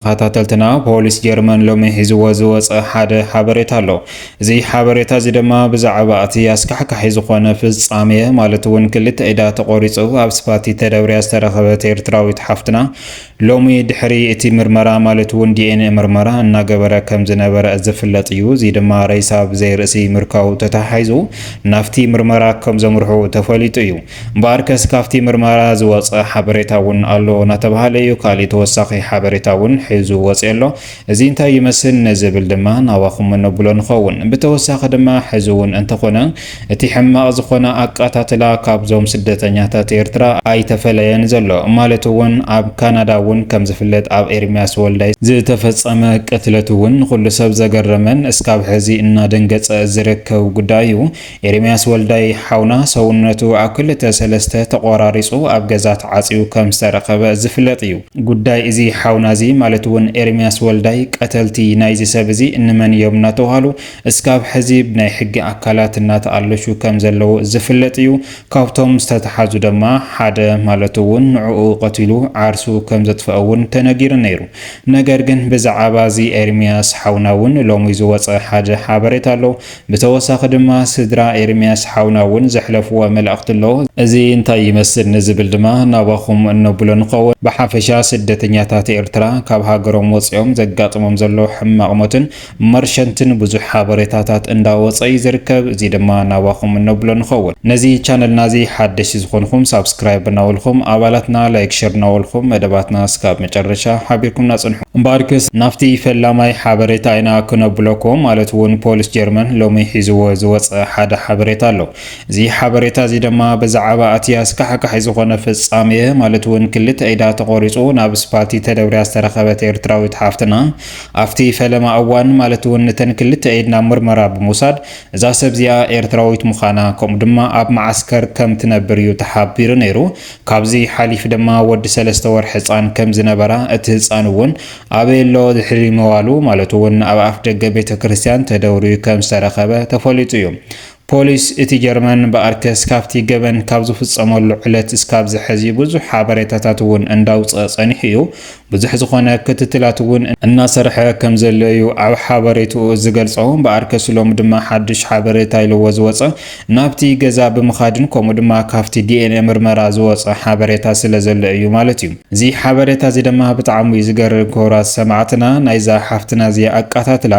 ተኸታተልትና ፖሊስ ጀርመን ሎሚ ሒዝዎ ዝወጸ ሓደ ሓበሬታ ኣሎ። እዚ ሓበሬታ እዚ ድማ ብዛዕባ እቲ ኣስካሕካሒ ዝኾነ ፍጻሜ ማለት እውን ክልተ ኢዳ ተቖሪጹ ኣብ ስፋቲ ተደብርያ ዝተረኸበት ኤርትራዊት ሓፍትና ሎሚ ድሕሪ እቲ ምርመራ ማለት እውን ዲኤንኤ ምርመራ እናገበረ ከም ዝነበረ ዝፍለጥ እዩ። እዚ ድማ ሬሳ ብዘይርእሲ ምርካቡ ተተሓሒዙ ናብቲ ምርመራ ከም ዘምርሑ ተፈሊጡ እዩ። እምበኣርከስ ካብቲ ምርመራ ዝወጸ ሓበሬታ እውን ኣሎ እናተባህለ እዩ። ካሊእ ተወሳኺ ሓበሬታ እውን ሕዙ ወጺኦ ኣሎ። እዚ እንታይ ይመስል ንዝብል ድማ ናባኹም እነብሎ ንኸውን። ብተወሳኺ ድማ ሕዚ እውን እንተኾነ እቲ ሕማቕ ዝኾነ ኣቃታትላ ካብዞም ስደተኛታት ኤርትራ ኣይተፈለየን ዘሎ። ማለት እውን ኣብ ካናዳ እውን ከምዝፍለጥ ኣብ ኤርሚያስ ወልዳይ ዝተፈጸመ ቅትለት እውን ንኹሉ ሰብ ዘገረመን እስካብ ሕዚ እናደንገጸ ዝርከብ ጉዳይ እዩ። ኤርምያስ ወልዳይ ሓውና ሰውነቱ ኣብ ክልተ ሰለስተ ተቖራሪጹ ኣብ ገዛ ተዓጽዩ ከም ዝተረኸበ ዝፍለጥ እዩ። ጉዳይ እዚ ሓውና እዚ ማለት እውን ኤርምያስ ወልዳይ ቀተልቲ ናይዚ ሰብ እዚ እንመን እዮም እናተብሃሉ እስካብ ሕዚ ብናይ ሕጊ ኣካላት እናተኣለሹ ከም ዘለዉ ዝፍለጥ እዩ። ካብቶም ዝተትሓዙ ደማ ሓደ ማለቱ እውን ንዕኡ ቀቲሉ ዓርሱ ከም ዘጥፈኣ እውን ተነጊሩ ነይሩ። ነገር ግን ብዛዓባ እዚ ኤርምያስ ሓውና እውን ሎሚ ዝወጸ ሓደ ሓበሬታ ኣሎ። ብተወሳኺ ድማ ስድራ ኤርምያስ ሓውና እውን ዘሕለፍዎ መልእኽቲ ኣሎ። እዚ እንታይ ይመስል ንዝብል ድማ ናባኹም እነብሎ ንኸውን። ብሓፈሻ ስደተኛታት ኤርትራ ካብ ሃገሮም ወጺኦም ዘጋጥሞም ዘሎ ሕማቕ ሞትን መርሸንትን ብዙሕ ሓበሬታታት እንዳወጸ እዩ ዝርከብ። እዚ ድማ ናባኹም እነብሎ ንኸውን። ነዚ ቻነልና እዚ ሓደሽቲ ዝኾንኹም ሳብስክራይብ እናበልኹም ኣባላትና ላይክ ሸር እናበልኹም መደባትና እስካብ መጨረሻ ሓቢርኩምና ጽንሑ። እምበኣርክስ ናብቲ ፈላማይ ሓበሬታ ኢና ክነብለኩም፣ ማለት ውን ፖሊስ ጀርመን ሎሚ ሒዝዎ ዝወጸ ሓደ ሓበሬታ ኣሎ። እዚ ሓበሬታ እዚ ደማ ብዛዓባ ኣቲ ኣስካሕካሒ ዝኾነ ፍጻሜ፣ ማለት ውን ክልተ ኢዳ ተቆሪጹ ናብ ስፓልቲ ተደብርያ ዝተረኸበት ኤርትራዊት ሓፍትና ኣፍቲ ፈለማ እዋን ማለት ውን እተን ክልተ ኢድ ናብ ምርመራ ብምውሳድ እዛ ሰብዚኣ ኤርትራዊት ምዃና ከምኡ ድማ ኣብ መዓስከር ከምትነብር እዩ ተሓቢሩ ነይሩ። ካብዚ ሓሊፍ ድማ ወዲ ሰለስተ ወርሒ ህጻን ከም ዝነበራ እቲ ህጻን እውን ኣበይ ኣሎ ድሕሪ ምባሉ ማለት እውን ኣብ ኣፍ ደገ ቤተ ክርስቲያን ተደውርዩ ከም ዝተረኸበ ተፈሊጡ እዩ። ፖሊስ እቲ ጀርመን ብኣርከስ ካብቲ ገበን ካብ ዝፍጸመሉ ዕለት እስካብ ዝሐዚ ብዙሕ ሓበሬታታት እውን እንዳውጽኣ ጸኒሑ እዩ። ብዙሕ ዝኾነ ክትትላት እውን እናሰርሐ ከምዘሎ እዩ ኣብ ሓበሬትኡ ዝገልፆ። እምበኣርከስ ሎሚ ድማ ሓዱሽ ሓበሬታ ኢልዎ ዝወፀ ናብቲ ገዛ ብምኻድን ከምኡ ድማ ካፍቲ ዲኤንኤ ምርመራ ዝወፀ ሓበሬታ ስለዘሎ እዩ ማለት እዩ። እዚ ሓበሬታ እዚ ድማ ብጣዕሚ እዩ ዝገርም ክቡራት ሰማዕትና ናይዛ ሓፍትና እዚኣ ኣቃታትላ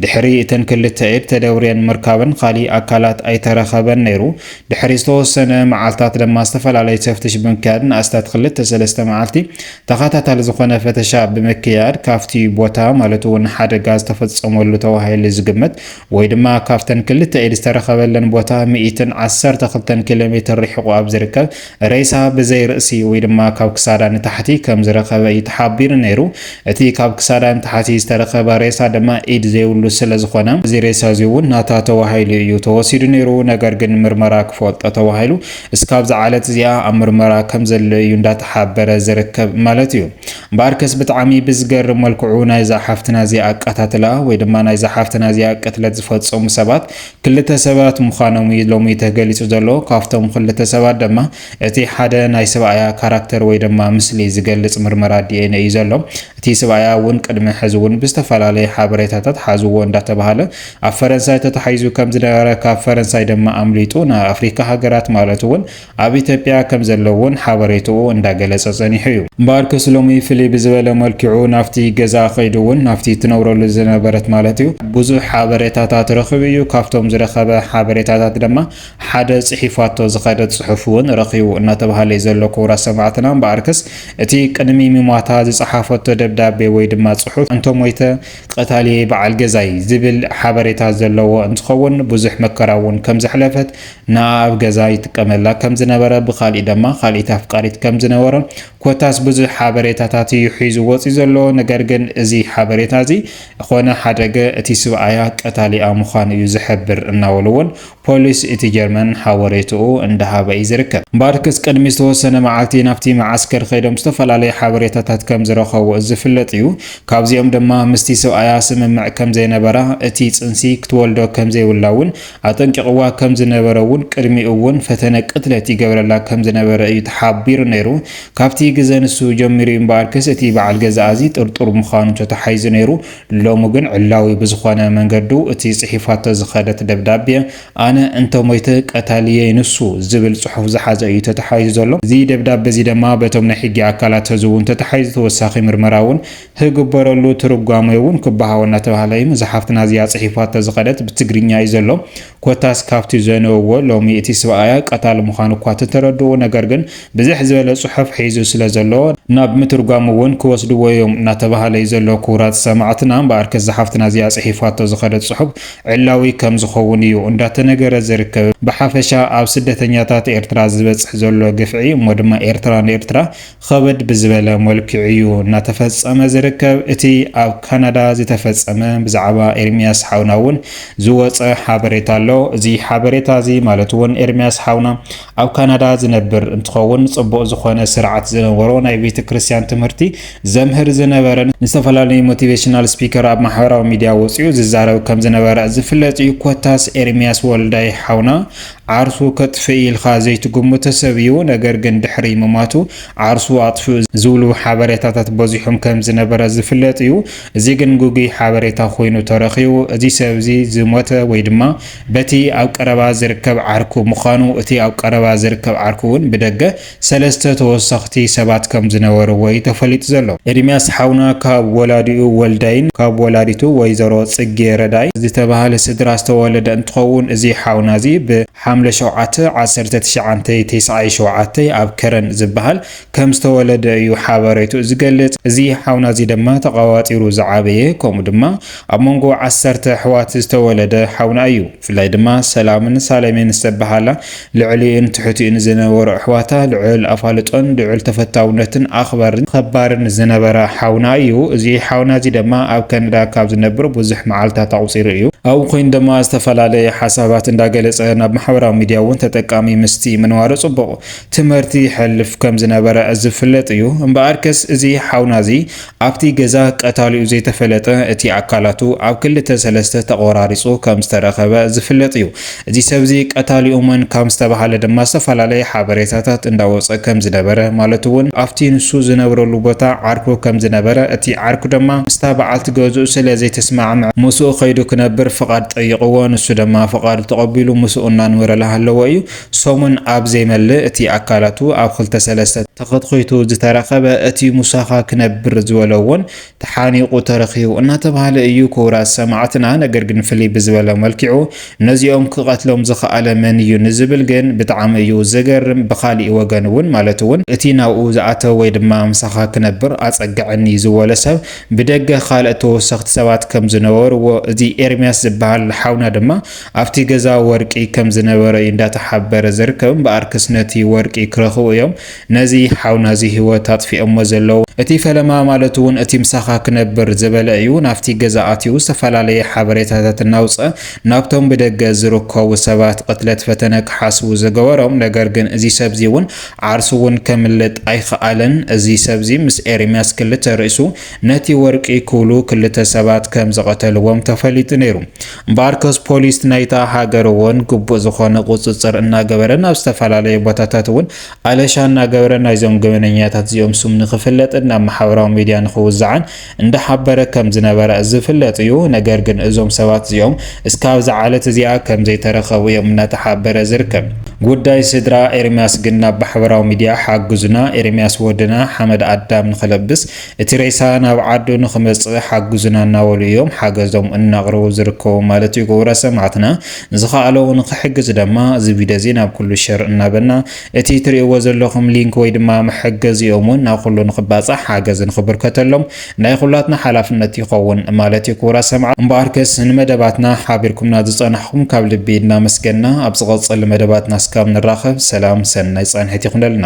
ድሕሪ እተን ክልተ ኢድ ተደብርየን ምርካበን ካሊእ ኣካላት ኣይተረኸበን ነይሩ ድሕሪ ዝተወሰነ መዓልታት ድማ ዝተፈላለዩ ተፍትሽ ብምክያድ ንኣስታት ክልተ ሰለስተ መዓልቲ ተኸታታሊ ዝኾነ ፈተሻ ብምክያድ ካብቲ ቦታ ማለት እውን ሓደጋ ዝተፈፀመሉ ተባሂሉ ዝግመት ወይ ድማ ካብተን ክልተ ኢድ ዝተረኸበለን ቦታ ሚእትን ዓሰርተ ክልተን ኪሎ ሜትር ርሒቑ ኣብ ዝርከብ ሬሳ ብዘይ ርእሲ ወይ ድማ ካብ ክሳዳ ንታሕቲ ከም ዝረኸበ እዩ ተሓቢሩ ነይሩ። እቲ ካብ ክሳዳ ንታሕቲ ዝተረኸበ ሬሳ ድማ ኢድ ዘይብሉ ስለ ዝኾነ እዚ ሬሳ እዚ እውን ናታ ተባሂሉ እዩ ተወሲዱ ነይሩ። ነገር ግን ምርመራ ክፈልጦ ተባሂሉ እስካብ ዝዓለት እዚኣ ኣብ ምርመራ ከም ዘሎ እዩ እንዳተሓበረ ዝርከብ ማለት እዩ እምበኣርከስ ብጣዕሚ ብዝገርም መልክዑ ናይዛ ሓፍትና እዚኣ ኣቀታትላ ወይ ድማ ናይዛ ሓፍትና እዚኣ ቅትለት ዝፈጸሙ ሰባት ክልተ ሰባት ምዃኖም እዩ ሎሚ ተገሊጹ ዘሎ ካብቶም ክልተ ሰባት ድማ እቲ ሓደ ናይ ሰብኣያ ካራክተር ወይ ድማ ምስሊ ዝገልጽ ምርመራ ዲኤንኤ እዩ ዘሎ እቲ ሰብኣያ እውን ቅድሚ ሕዚ እውን ብዝተፈላለየ ሓበሬታታት ሓዝዎ እንዳተባሃለ ኣብ ፈረንሳይ ተታሒዙ ከም ዝነበረ ካብ ፈረንሳይ ድማ ኣምሊጡ ናብ ኣፍሪካ ሃገራት ማለት እውን ኣብ ኢትዮጵያ ከም ዘሎ እውን ሓበሬትኡ እንዳገለፀ ፀኒሑ እዩ። እምበኣርከስ ሎሚ ፍልይ ብዝበለ መልክዑ ናብቲ ገዛ ከይዱ እውን ናብቲ ትነብረሉ ዝነበረት ማለት እዩ ብዙሕ ሓበሬታታት ረኺቡ እዩ። ካብቶም ዝረኸበ ሓበሬታታት ድማ ሓደ ፅሒፋቶ ዝኸደት ፅሑፍ እውን ረኺቡ እናተብሃለ እዩ ዘሎ። ክቡራት ሰማዕትና እምበኣርከስ እቲ ቅድሚ ምሟታ ዝፀሓፈቶ ደብዳቤ ወይ ድማ ፅሑፍ እንተሞይተ ቀታሊ በዓል ገዛይ ዝብል ሓበሬታ ዘለዎ እንትኸውን ብዙሕ መከራ እውን ከም ዘሕለፈት ንኣ ኣብ ገዛ ይጥቀመላ ከም ዝነበረ ብካልእ ደማ ካልኢት ኣፍቃሪት ከም ዝነበሮ ኮታስ ብዙሕ ሓበሬታታት እዩ ሒዙ ወፅዩ ዘሎ ነገር ግን እዚ ሓበሬታ እዚ ኾነ ሓደገ እቲ ስብኣያ ቀታሊኣ ምዃኑ እዩ ዝሕብር እናበሉ እውን ፖሊስ እቲ ጀርመን ሓበሬትኡ እንዳሃበ እዩ ዝርከብ። ባርክስ ቅድሚ ዝተወሰነ መዓልቲ ናብቲ መዓስከር ከይዶም ዝተፈላለዩ ሓበሬታታት ከምዝረኸቡ ዝፍለጥ እዩ። ካብዚኦም ድማ ምስቲ ሰብኣያ ስምምዕ ከምዘይነበራ፣ እቲ ፅንሲ ክትወልዶ ከምዘይብላ እውን ኣጠንቂቕዋ ከምዝነበረ እውን ቅድሚኡ እውን ፈተነ ቅትለት ይገብረላ ከምዝነበረ እዩ ተሓቢሩ ነይሩ። ካብቲ ግዘ ንሱ ጀሚሩ እዩ ባርክስ እቲ በዓል ገዛኣ እዚ ጥርጡር ምዃኑ ተታሒዙ ነይሩ። ሎሚ ግን ዕላዊ ብዝኾነ መንገዱ እቲ ጽሒፋቶ ዝኸደት ደብዳቤ ኣነ እንተ ሞይተ ቀታሊየይ ንሱ ዝብል ጽሑፍ ዝሓዘ እዩ ተተሓሒዙ ዘሎ። እዚ ደብዳቤ እዚ ደማ በቶም ናይ ሕጊ ኣካላት ሐዚ እውን ተተሓሒዙ ተወሳኺ ምርመራ እውን ህግበረሉ ትርጓሜ እውን ክበሃቦ እናተባህለ እዩ። እዛ ሓፍትና እዚኣ ጽሒፋቶ ዝኸደት ብትግርኛ እዩ ዘሎ። ኮታስ ካብቲ ዘንበብዎ ሎሚ እቲ ስብኣያ ቀታሊ ምዃኑ እኳ ተተረድኡ ነገር ግን ብዝሕ ዝበለ ጽሑፍ ሒዙ ስለ ዘሎ ናብ ምትርጓም እውን ክወስድዎ እዮም እናተባሃለ እዩ ዘሎ ክቡራት ሰማዕትና እምበኣርከ እዛ ሓፍትና እዚኣ ጽሒፋቶ ዝኸደት ጽሑፍ ዕላዊ ከም ዝኸውን እዩ እንዳተነገረ ዝርከብ ብሓፈሻ ኣብ ስደተኛታት ኤርትራ ዝበጽሕ ዘሎ ግፍዒ እሞ ድማ ኤርትራ ንኤርትራ ኸበድ ብዝበለ ሞልክዕ'ዩ እናተፈጸመ ዝርከብ። እቲ ኣብ ካናዳ ዝተፈጸመ ብዛዕባ ኤርሚያስ ሓውና'ውን ዝወጸ ሓበሬታ ኣሎ። እዚ ሓበሬታ'ዚ ማለት'ውን ኤርሚያስ ሓውና ኣብ ካናዳ ዝነብር እንትኸውን ጽቡቕ ዝኾነ ስርዓት ዝነበሮ ናይ ቤተክርስትያን ትምህርቲ ዘምህር ዝነበረን ንዝተፈላለዩ ሞቲቬሽናል ስፒከር ኣብ ማሕበራዊ ሚድያ ወጺኡ ዝዛረብ ከምዝነበረ ዝፍለጥ'ዩ። ኮታስ ኤርሚያስ ወልዳይ ሓውና ዓርሱ ከጥፍእ ኢልካ ዘይትግምቶ ሰብ እዩ፣ ነገር ግን ድሕሪ ምማቱ ዓርሱ ኣጥፍኡ ዝብሉ ሓበሬታታት በዚሖም ከም ዝነበረ ዝፍለጥ እዩ። እዚ ግን ግጉይ ሓበሬታ ኮይኑ ተረኺቡ። እዚ ሰብ እዚ ዝሞተ ወይ ድማ በቲ ኣብ ቀረባ ዝርከብ ዓርኩ ምዃኑ እቲ ኣብ ቀረባ ዝርከብ ዓርኩ እውን ብደገ ሰለስተ ተወሰኽቲ ሰባት ከም ዝነበርዎ እዩ ተፈሊጡ ዘሎ። ኤርሚያስ ሓውና ካብ ወላዲኡ ወልዳይን ካብ ወላዲቱ ወይዘሮ ጽጌ ረዳይ ዝተባህለ ስድራ ዝተወለደ እንትኸውን እዚ ሓውና እዚ ብ ሓምለ ሸውዓተ ዓሰርተ ትሽዓንተ ቴስዓይ ሸውዓተ ኣብ ከረን ዝበሃል ከም ዝተወለደ እዩ ሓበሬትኡ ዝገልጽ። እዚ ሓውና እዚ ድማ ተቐባጢሩ ዝዓበየ ከምኡ ድማ ኣብ መንጎ ዓሰርተ ኣሕዋት ዝተወለደ ሓውና እዩ። ብፍላይ ድማ ሰላምን ሳሌሜን ዝተበሃላ ልዕሊኡን ትሕቲኡን ዝነበሩ ኣሕዋታ ልዑል ኣፋልጦን ልዑል ተፈታውነትን ኣኽባርን ኸባርን ዝነበራ ሓውና እዩ። እዚ ሓውና እዚ ድማ ኣብ ከነዳ ካብ ዝነብር ብዙሕ መዓልታት ኣቑጺሩ እዩ። ኣብኡ ኮይኑ ድማ ዝተፈላለየ ሓሳባት እንዳገለጸ ናብ ማሕበራዊ ሚድያ እውን ተጠቃሚ ምስቲ ምንባሩ ጽቡቕ ትምህርቲ ይሐልፍ ከም ዝነበረ ዝፍለጥ እዩ። እምበኣርከስ እዚ ሓውና እዚ ኣብቲ ገዛ ቀታሊኡ ዘይተፈለጠ እቲ ኣካላቱ ኣብ ክልተ ሰለስተ ተቖራሪጹ ከም ዝተረኸበ ዝፍለጥ እዩ። እዚ ሰብ እዚ ቀታሊኡ መን ካም ዝተባህለ ድማ ዝተፈላለየ ሓበሬታታት እንዳወጸ ከም ዝነበረ ማለት እውን ኣብቲ ንሱ ዝነብረሉ ቦታ ዓርኩ ከም ዝነበረ እቲ ዓርኩ ድማ ምስታ በዓልቲ ገዝኡ ስለ ዘይተስማዕምዐ ምስኡ ከይዱ ክነብር ፍቓድ ጠይቕዎ ንሱ ደማ ፍቓዱ ተቐቢሉ ምስኡ እናንበረ ላሃለወ እዩ ሰሙን ኣብ ዘይመልእ እቲ ኣካላቱ ኣብ ኽልተ ሰለስተ ተኸትኺቱ ዝተረኸበ እቲ ሙሳኻ ክነብር ዝበሎ እውን ተሓኒቑ ተረኺቡ እናተብሃለ እዩ ክቡራት ሰማዕትና ነገር ግን ፍልይ ብዝበለ መልኪዑ ነዚኦም ክቐትሎም ዝኸኣለ መን እዩ ንዝብል ግን ብጣዕሚ እዩ ዘገርም ብኻሊእ ወገን እውን ማለት እውን እቲ ናብኡ ዝኣተወ ወይ ድማ ምሳኻ ክነብር ኣፀግዐኒ ዝበሎ ሰብ ብደገ ኻልእ ተወሰኽቲ ሰባት ከም ዝነበርዎ እዚ ኤርሚያስ ዝበሃል ሓውና ድማ ኣብቲ ገዛ ወርቂ ከም ዝነበረ እዩ እንዳተሓበረ ዝርከብ እምበኣርክስ ነቲ ወርቂ ክረኽቡ እዮም ነዚ ሓውና እዚ ሂወት ኣጥፊኦሞ ዘለዉ። እቲ ፈለማ ማለት እውን እቲ ምሳኻ ክነብር ዝበለ እዩ ናብቲ ገዛ ኣትዩ ዝተፈላለየ ሓበሬታታት እናውፀ ናብቶም ብደገ ዝርከቡ ሰባት ቕትለት ፈተነ ክሓስቡ ዝገበሮም ነገር ግን እዚ ሰብ እዚ እውን ዓርሱ እውን ከምልጥ ኣይኸኣለን እዚ ሰብ እዚ ምስ ኤርምያስ ክልተ ርእሱ ነቲ ወርቂ ክብሉ ክልተ ሰባት ከም ዝቐተልዎም ተፈሊጡ ነይሩ እምበኣርከስ ፖሊስ ናይታ ሃገር እውን ግቡእ ዝኾነ ቁፅፅር እናገበረን ኣብ ዝተፈላለዩ ቦታታት እውን ኣለሻ እናገበረ ናይዞም ገበነኛታት እዚኦም ስም ንክፍለጥን ናብ ማሕበራዊ ሚድያ ንክውዛዕን እንዳሓበረ ከምዝነበረ ዝፍለጥ እዩ። ነገር ግን እዞም ሰባት እዚኦም እስካብ እዛ ዓለት እዚኣ ከምዘይተረኸቡ እዮም እናተሓበረ ዝርከብ። ጉዳይ ስድራ ኤርምያስ ግን ናብ ማሕበራዊ ሚድያ ሓግዙና ኤርምያስ ወድና ሓመድ ኣዳም ንክለብስ እቲ ሬሳ ናብ ዓዱ ንኽመፅእ ሓግዙና እናበሉ እዮም ሓገዞም እናቕረቡ ዝርከቡ ማለት እዩ ግብረ ሰማዕትና። ዝኸኣለዎ ንኽሕግዝ ደማ እዚ ቪድዮ እዚ ናብ ኩሉ ሸር እናበልና እቲ ትርእይዎ ዘለኹም ሊንክ ወይ ድማ መሐገዚኦም እውን ናብ ኩሉ ንኽባፃሕ ሓገዝ ንኽብርከተሎም ናይ ኹላትና ሓላፍነት ይኸውን ማለት እዩ ክቡራት ሰማዕት። እምበኣርከስ ንመደባትና ሓቢርኩምና ዝፀናሕኹም ካብ ልቢ እናመስገንና ኣብ ዝቐፅል መደባትና እስካብ ንራኸብ ሰላም ሰናይ ፃንሒት ይኹነልና።